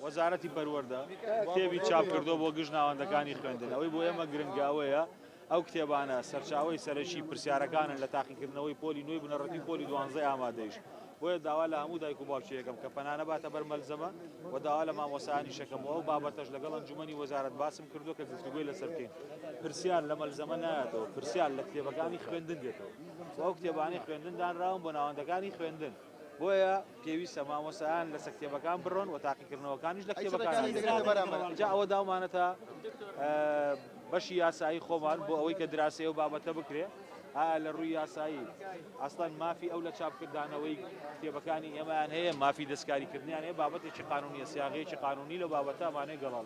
وەزارەتی پەروەردە کتێبی چاپ کردووە بۆ گشت ناوەندەکانی خوێندن، ئەوەی بۆ ئێمە گرنگە ئەوەیە ئەو کتێبانە سەرچاوەی سەرەکی پرسیارەکانن لە تاقیکردنەوەی پۆلی نۆی بنەڕەتی و پۆلی دوانزەی ئامادەیش، بۆیە داوا لە هەموو دایک و باوکی ئەکەم کە پەنا نەباتە بەر مەلزەمە و داوا لە مامۆستایانیش ئەکەم و ئەو بابەتەش لەگەڵ ئەنجومەنی وەزارەت باسم کردووە کە گفتوگۆی لەسەر بکەین. پرسیار لە مەلزەمە نایەتەوە، پرسیار لە کتێبەکانی خوێندن دێتەوە و ئەو کتێبانەی خوێندن دانراون بۆ ناوەندەکانی خوێندن، بۆیە پێویستە مامۆستایان لەسە کتێبەکان بڕۆن و تاقیکردنەوەکانیش لە کتێبەکان جا ئەوە داومانەتە بەشی یاسایی خۆمان بۆ ئەوەی کە دراسەیە و بابەتە بکرێ لە ڕووی یاسایی ئەستان مافی ئەو لە چاپکردانەوەی کتێبەکانی ئێمەیان هەیە مافی دەستکاریکردنیان هەیە بابەتێکی قانونیە سیاغەیەکی قانونی لە بابەتەمانێ گەڵاڵ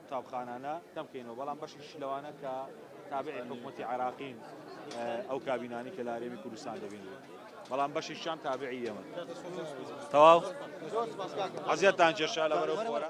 قوتابخانانە کەم کەینەوە بەڵام بەشیش لەوانە کە تابعی حکومەتی عراقین ئەو کابینانی کە لە هەرێمی کوردستان دەبینن بەڵام بەشیشیان تابعی ئێمە تەواو عزیەتتان کێشا لەبەرەو خۆرە